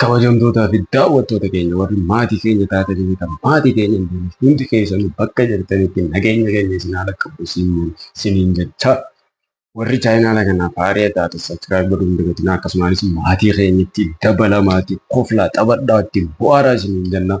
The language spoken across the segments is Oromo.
Kabajamtootaa fi daawwattoota keenya warri maatii keenya taatanii kan maatii keenya hin taane hundi keessanuu bakka jirtanitti nageenya keenya isin haala qabu isiniin jechaa warri chaayinaala kanaaf haaree taate saskiraayib godhuu hin dagatinaa akkasumas maatii keenyatti dabalamaatti koflaa taphadhaa ittiin bu'aaraa isiniin jennaa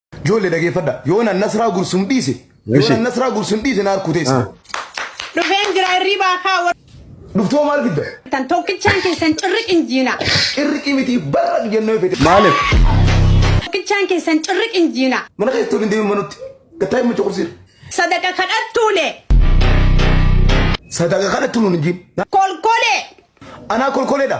Joolle dhageeffadha. Yoon an nasraa gursum dhiise. Yoon Ishi. an nasraa gursum dhiise na harkuu teessa. Dhufeen jira hirribaa kaa Dhuftoo maal fidda? wartan tokkichaan keessan cirriq hin jiina. Cirriqii miti barra jennee fete. Maaliif? Tokkichaan keessan cirriq hin jiina. Mana keessatti waliin deemuun manutti. Gattaa hin mucha kursiira. Sadaqa kadhattuule Sadaqa kadhattu nuun hin jiin. kolkolee Anaa kolkoleedha.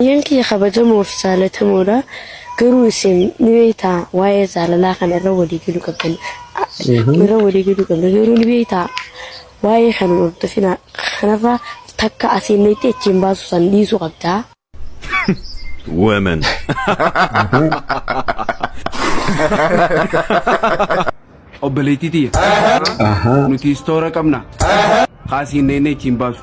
Obboleeyyan kiyya kabajamoo fi jaalatamoodha, garuu isin ni beektaa waa'ee jaalalaa kana irra walii galuu qabdan, irra walii galuu qabdan, garuu ni beektaa waa'ee kana hin hordofinaa, kanarra takka asiin dhayxee achiin baasuu san dhiisuu qabda. Women. Obboleettii tiyya, nuti istoora qabna, kaa asiin dhayxee achiin baasu.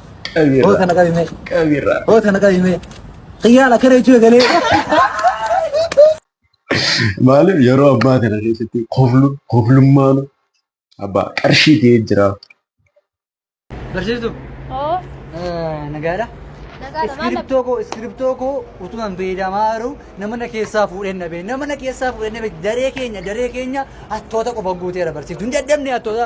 Qabiirra. Hoo kana qabime. Qabiirra. Hoo kana qabime. Xiyyaala kana jechuu eegalee. Maaliif yeroo abbaa kana keessatti koflu koflummaan abbaa qarshii ta'ee jira. Barsiistuu. Oo, Nagaadha. nagaadha maal Iskiriptoo koo iskiriptoo koo utuma hin fayyadamaa jiru nama na keessaa fuudhee na bee nama na keessaa fuudhee na bee daree keenya daree keenya hattoota qofa guuteera barsiiftu hin dadhabne hattoota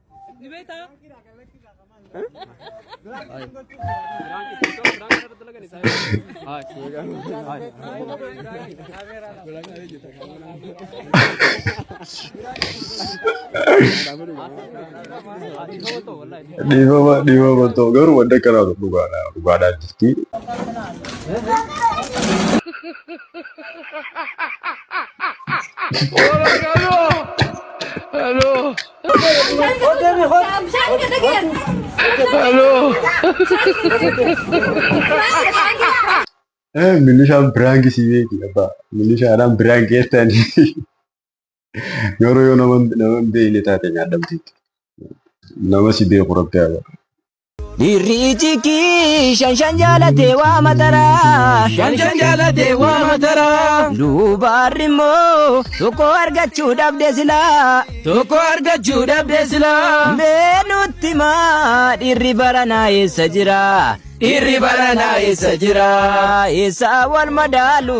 Ni beektaa? Dhiifama dhiifama ta'u garuu wanta kanaatu dhugaadha dhugaadhaa jirti. Milishaan biraanki si beeki abbaa. Milishaadhaan biraanki jettan. Yeroo yoo nama nama hin beekne taate nyaadhamti. Nama si beeku rabbi haa Dhiirri iji kii shan shan jaalatee waa mataraa. Shan shan jaalatee waa mataraa. Duubaarri immoo tokko argachuu dhabde silaa. Tokko argachuu dhabde silaa. Mee nutti maa dhiirri baranaa eessa jira? Dhiirri baranaa eessa jira? Eessa wal madaalu?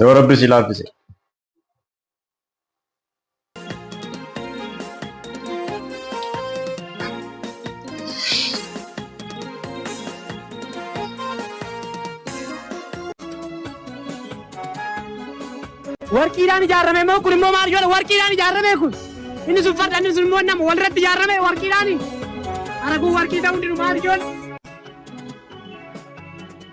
Yoo rabbi si laaffise. warqiidhaan ijaarame immoo kun immoo maal godha warqiidhaan ijaarame kun inni sun farda inni sun immoo nama walirratti ijaarame warqiidhaan araguun warqii ta'uu didu maal ijoollee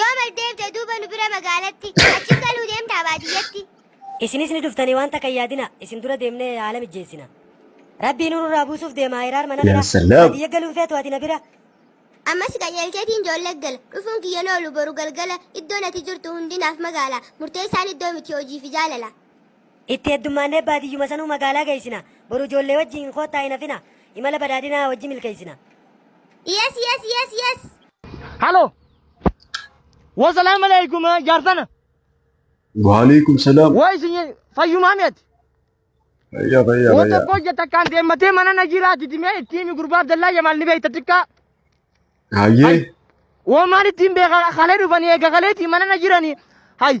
Yoo mal deemte duuba nu bira magaalatti, achiin galuu deemtaa baadiyyatti. Isinis ni dhuftanii waan takka hin yaadina, isin dura deemnee haala mijjeessina. Rabbii nuur irraa buusuuf deema hiraar mana bira, baadiyya galuun feetu ati na bira. Ammas qajeelcheetiin joollee gala, dhufuun kiyya hin oolu boru galgala, iddoon ati jirtu hundi naaf magaala, murteessaan iddoo miti hojii fi jaalala. Itti heddummaannee baadiyyuma sanuu magaalaa geessina, boru joollee wajjiin koottaa hin hafina, imala badhaadhinaa wajji milkeessina. Yes yes yes yes. Halo. Wasalaamu alaikum jaarsana. Waalaikum salaam. Waa isin fayyumaa mi'ati. Fayyaa fayyaa Wata fayyaa. koo jetta kan deemmatee mana na jiraa didimee ittiin gurbaa Abdallaa Jamaal ni beekta xiqqaa. Hayyee. Woo maal ittiin beeka kalee dhufanii eega kaleetii mana na jiranii. Hay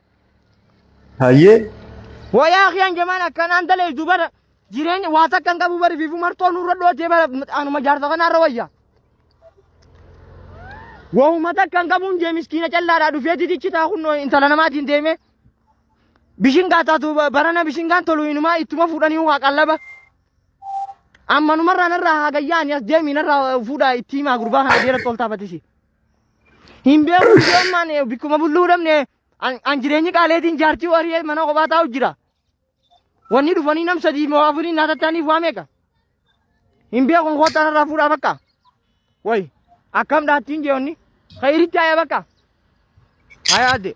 Hayyee. Wayaa kiyaan jamaan akkanaan dalaydu bara jireenya waa takkan qabu bari fiifu martoo nurra dhootee bara anuma jaarsa kanaarra wayya. Wahuma takkan qabuun jee miskiina callaadhaa dhufee titichi taa kun intala namaatiin deemee. Bishingaa taatu barana bishingaan tolu inumaa ittuma fuudhanii waa qallaba. Ammanumarraa narraa haa gayyaani as deemii narraa fuudhaa itti himaa gurbaa kana deera toltaa batisi. Hin beeku iddoo ammaan eh, bikkuma bulluu dhabne an an jireenyi qaaleetiin jaartii warii mana kophaa taa'u jira. Wanni dhufanii nam sadii moo afurii naa tattaaniif waa meeqa? Hin beeku koottaan irraa fuudhaa bakka. Wayi akkam dhaattiin jeewonni. Kayiritti haaya bakka. Haaya adde.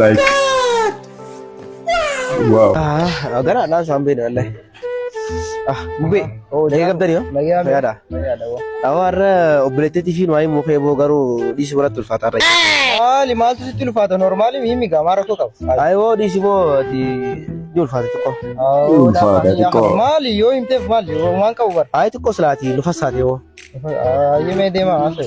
like wow gara na san bai da wallahi ah mube o da gab dari yo ya da awar oblete ti fin wai mo fe bo garu di sura tul fata rai ah li mal tu tul fata normal mi mi ga mara ko ka ai wo di si bo ti tul fata ko Tul fata ti ko. mal yo imte mal yo man ka ubar ai ti ko slati lu fasati wo ah ye me de ma ase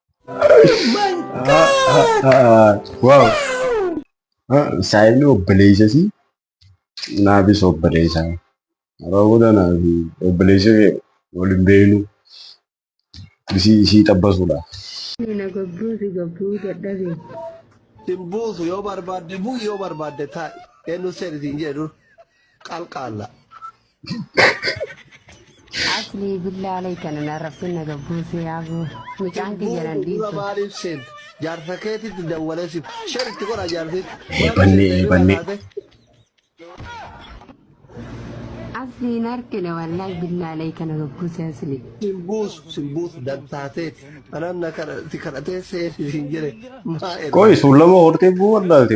Wow. Saayibni obboleessa isii naafis obboleessa. Raawwata naaf obboleessa kee waliin beeknu isii isii xabbasuudha. Mina gabbuu si gabbuu dadhabe. Sin buusu yoo barbaadde bu'i yoo barbaadde taa'i. Eenyu seerri siin jedhu qalqaalla. Asli billaa aleykana na rabbin na gabbuuse yaabu. Mucaan kiyya nan Dura dhiisu. maaliif seente? Jaarsa keetitti dawwalee siif. Share itti godha jaarsitti. Maaliif Bannee, seente hirriba bannee. taate? Asli hin argine wallahi billaa aleykana gabbuuse asli. Sin buusu, sin buusu dantaateeti. Anaan na kadhati kadhatee seeti siin jedhe. Maa erga? Qoy suullama hortee buu wallaalte.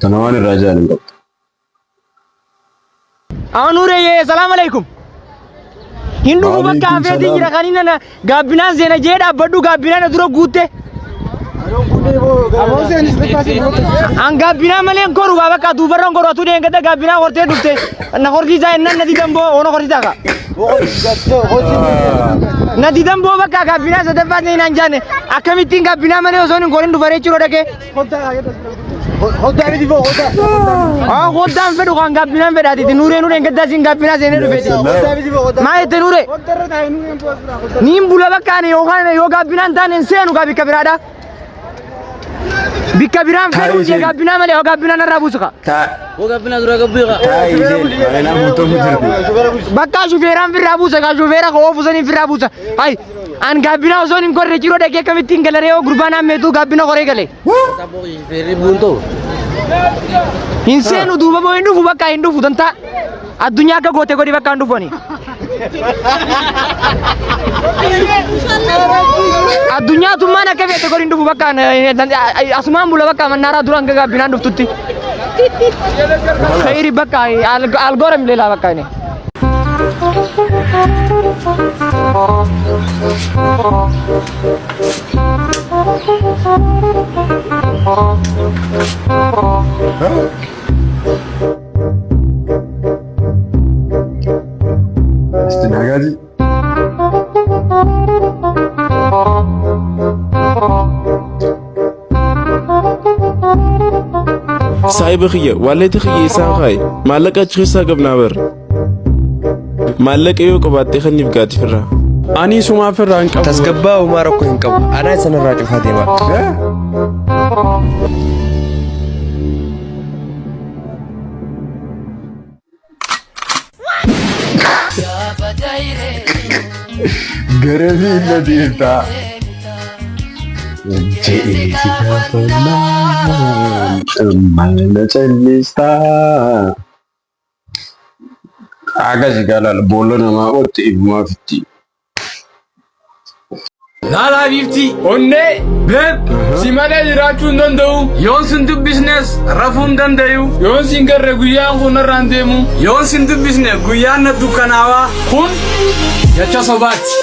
Tana waan irraa jaan hin qabdu. Aanuure yee salaam alaikum. Hin dhufu bakka Waalaikum hafeetiin salaam. jira kan inni na gaabbinaan seena jee dhaabbadhu gaabbinaan na dura guutte. An gaabbinaa malee hin koru bakka duubarra hin koru atuu deengata gaabbinaa hortee dhufte. Na horsiisaa jennaan na didan boo ona horsiisaa kaa. Na didan boo bakka gabbinaa sadaffaa ta'e naan jaanne akkamittiin gabbinaa malee osoo hin gorin dhufaree jiruu dhagee. Hoddaa miti boo hoddaa. Haa hoddaan fedhu kan gabbinaan fedhaatiiti nuuree nuureen gaddaa siin gabbinaa seenee dhufeeti. Hoddaa miti boo hoddaa. Maa jette nuuree? Niin bula bakka ani yookaan yoo gabbinaan taane hin seenu gaa bikka biraadhaa. Bikka biraan Taa'ii fedhuu isheen. ishee gaabbinaa malee hoo gaabbinaa narraa buusu kaa. Taa- Wagabina dura gabbii kaa. taa isheen magaalaa guutuu hin jirti. Bakka shufeeraan firraa buusa kaa shufeera koo oofu saniin firraa buusa. Hayi an gaabbinaa osoo hin gorre ciroo dhagee akkamitti hin galaree hoo gurbaan hammeetuu gaabbina koree galee. Saboo feerri buun ta'u. Hin seenu duuba moo hin dhufu bakka hin dhufu dantaa. Addunyaa akka goote godhi bakka hin dhufani. Addunyaa tummaan akka feete godhi hin dhufu bakka asumaan bula bakka mannaaraa duraan gagaabbinaan dhuftutti. Khayri bakka algoora mileelaa bakka inni. Huh? Isti nagaji. Saahiba kiyya waalleetti kiyya isaan kaayi maallaqa achi keessaa qabnaa bar maallaqa yoo qabaattee kanniif gaati firraa. Ani sumaa firraa hin qabu. Tasgabbaa uumaa rakkoo hin qabu. Anaa isan irraa cufaa deemaa. Gara miila deemtaa. Jedhee si gaafannaan mana callistaa. Akkasi gaalaal boolla namaa qotti ifumaa fitti. Laalaa biiftii onnee beeb si malee jiraachuu hin danda'u. Yoon sin dubbisnes rafuu hin danda'u. Yoon sin garre guyyaan kun narraan deemu. Yoon sin dubbisne guyyaan na dukkanaawaa. Kun jecha sobaati.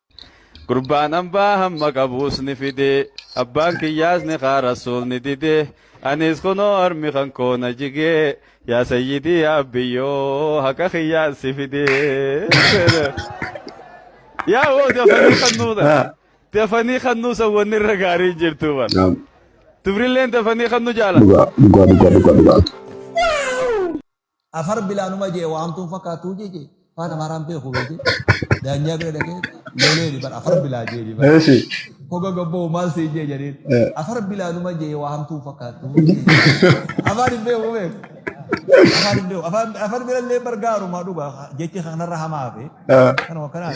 Gurbaan ambaa hamma qabuus ni fide abbaan kiyyaas ni kaa rasuul ni dide anis kunoo harmi kan koo na jige yaa sayyidii yaa abbiyyoo haqa kiyyaan si fide. Yaa woo dafanii kan nuudha. Ah, Dafanii kan nuusa wanni irra gaarii hin jirtu bar. naam. Tufrilleen dafanii kan nu jaalata. Dhugaa dhugaa dhugaa dhugaa dhugaa. Afar bilaa numa jee waamtuun fakkaattuu jee jee faan amaaraan beeku beekee daanyaa bira dhaqee leeleeni bara afar bilaa jee jee bara Eeshi. koga gabboo maal siin jee jedheen Eh. afar bilaa numa jee waamtuun fakkaattuu jee jee afaan hin beeku beeku afaan hin beeku afaan afaan bira illee bargaarumaa dhugaa jechi kanarra hamaa fi Eh. kanuma kanaan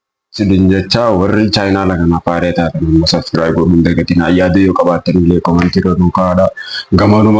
Isin jecha warri chaayinaala kanaaf haaree taatan ammoo subscribe godhuu hin dagatinaa. Yaada yoo qabaattanillee comment irra nuu kaa'adha. Gamanuma.